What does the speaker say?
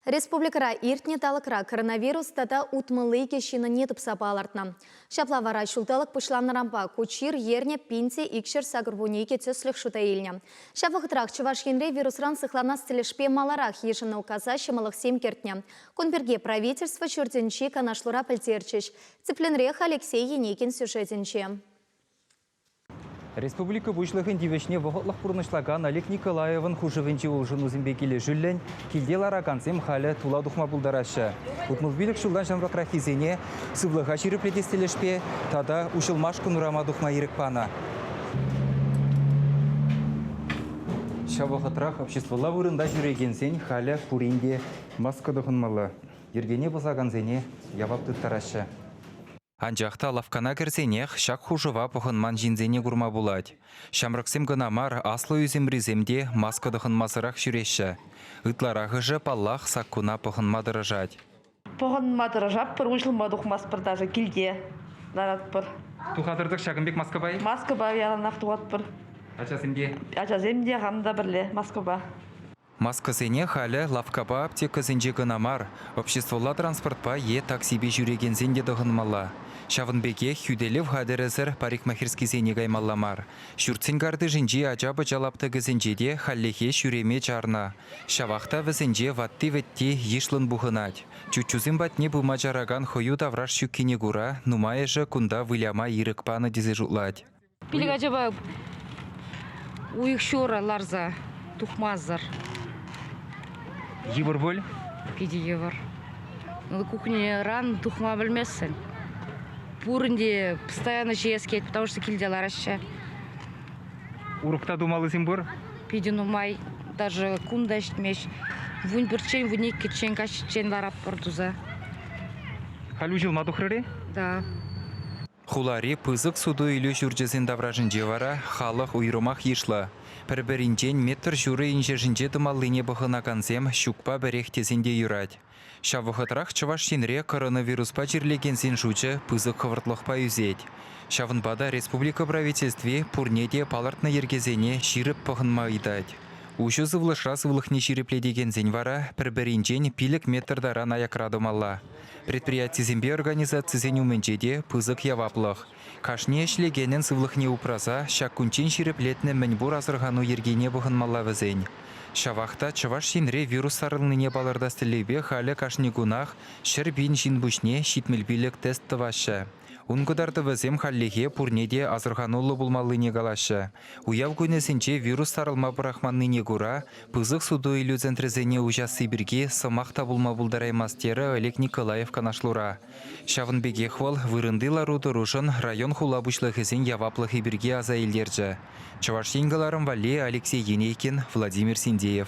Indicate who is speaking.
Speaker 1: Республикӑра иртнӗ талӑкра коронавирус тата утмӑл икӗ ҫыннине тупса палӑртнӑ. Ҫапла вара ҫулталӑк пуҫланнӑранпа ку чир ернӗ пин те икҫӗр сакӑрвунне икӗ тӗслӗх шута илнӗ. Ҫав вӑхӑтрах Чӑваш Енре вирусран сыхланас тӗлӗшпе маларах йышӑннӑ указа ҫӑмӑллӑхсем кӗртнӗ. Кун пирки правительство ҫуртӗнчи канашлура пӗлтерчӗҫ. Тӗплӗнрех Алексей Енигин сюжетӗнче.
Speaker 2: Республика Пуҫлӑхӗн тивӗҫне вӑхӑтлӑх пурнӑҫлакан Олег Николаевӑн хушӑвӗнчи улшӑнусемпе килӗшӳллӗн килте ларакансем халӗ тула тухма пултараҫҫӗ. Утмӑлпилӗк ҫултан ҫамрӑкраххисене сывлӑха ҫирӗплетес тӗлӗшпе тата уҫӑлмашкӑн урама тухма ирӗк панӑ. Ҫав вӑхӑтрах обществӑлла вырӑнта ҫӳрекенсен халӗ пурин те маска тӑхӑнмалла, йӗркене пӑсакансене явап тыттараҫҫӗ. Анчах та лавккана кӗрсенех ҫак хушӑва пӑхӑнман ҫынсене курма пулать. Ҫамрӑксем кӑна мар, аслӑ ӳсӗмрисем те маска тӑхӑнмасӑрах ҫӳреҫҫӗ. Ытларахӑшӗ, паллах, саккуна пӑхӑнма тӑрӑшать. Пӑхӑнма
Speaker 3: тӑрӑшатпӑр, уҫлӑма тухмастпӑр даже килте ларатпӑр. Тухатӑр-тӑк ҫакӑн пек
Speaker 2: маскӑпа-и? Маскӑпа яланах
Speaker 3: тухатпӑр. Ачасем те?
Speaker 2: Ачасем те, хам
Speaker 3: та пӗрле маскӑпа. Маскӑсене
Speaker 2: халӗ лавккапа аптекӑсенче кӑна мар, обществӑлла транспортпа е таксипе ҫӳрекенсен те тӑхӑнмалла. Ҫавӑн пекех хӳтӗлев хатӗрӗсӗр парикмахерскисене каймалла мар. Ҫуртсен картишӗнчи ача-пӑча лаптӑкӗсенче те хальлӗхе ҫӳреме чарнӑ. Ҫавах та вӗсенче ватти-вӗтти йышлӑн пухӑнать. Чуччусем патне пыма чаракан хӑю тавраш ҫуккине кура нумайӑшӗ кунта выляма ирӗк панӑ тесе шутлать. Пилӗк ачапа
Speaker 4: уйӑх ҫура ларса тухмасӑр.
Speaker 2: Йывӑр пуль? Питӗ йывӑр.
Speaker 4: Кухньӑран тухма пӗлместӗн. Пурин те постоянно ҫиес килет, потому что килте лараҫҫӗ.
Speaker 2: Урӑхта тумаллисем пур? Питӗ нумай.
Speaker 4: Даже кун та ҫитмест. Вун пӗрччен, вун иккӗччен, каҫчен ларатпӑр туса.
Speaker 2: Халь уҫӑлма тухрӑр-и? Да.
Speaker 4: Хулари
Speaker 2: пысӑк суту-илӳ ҫурчӗсен таврашӗнче вара халӑх уйрӑмах йышлӑ. Пӗр-пӗринчен метр ҫурӑ инҫешӗнче тӑмаллине пӑхӑнакансем ҫукпа пӗрех тесен те юрать. Ҫав вӑхӑтрах Чӑваш Енре коронавируспа чирлекенсен шучӗ пысӑк хӑвӑртлӑхпа ӳсет. Ҫавӑнпа та республика Правительстви пурне те палӑртнӑ йӗркесене ҫирӗп пӑхӑнма ыйтать. Уҫӑ сывлӑшра сывлӑхне ҫирӗплетекенсен вара пӗр-пӗринчен пилӗк метр таран аякра тӑмалла. Предприятисемпе организацисен умӗнче те пысӑк яваплӑх. Кашни ӗҫлекенӗн сывлӑхне упраса ҫак кунччен ҫирӗплетнӗ мӗнпур асӑрхану йӗркине пӑхӑнмалла вӗсен. Ҫавах та Чӑваш Енре вирус сарӑлнине палӑртас тӗллевпе халӗ кашни кунах ҫӗр пин ҫын пуҫне ҫитмӗл пилӗк тест тӑваҫҫӗ. Ун кӑтартӑвӗсем хальлӗхе пурне те асӑрхануллӑ пулмаллине калаҫҫӗ. Уяв кунӗсенче вирус сарӑлма пӑрахманнине кура пысӑк суту-илӳ центрӗсене уҫасси пирки сӑмах та пулма пултараймасть терӗ Олег Николаев канашлура. Ҫавӑн пекех вӑл вырӑнти лару-тӑрушӑн район-хула пуҫлӑхӗсен яваплӑхӗ пирки аса илтерчӗ. Чӑваш Ен кӑларӑм валли Алексей Енейкин, Владимир Синдеев.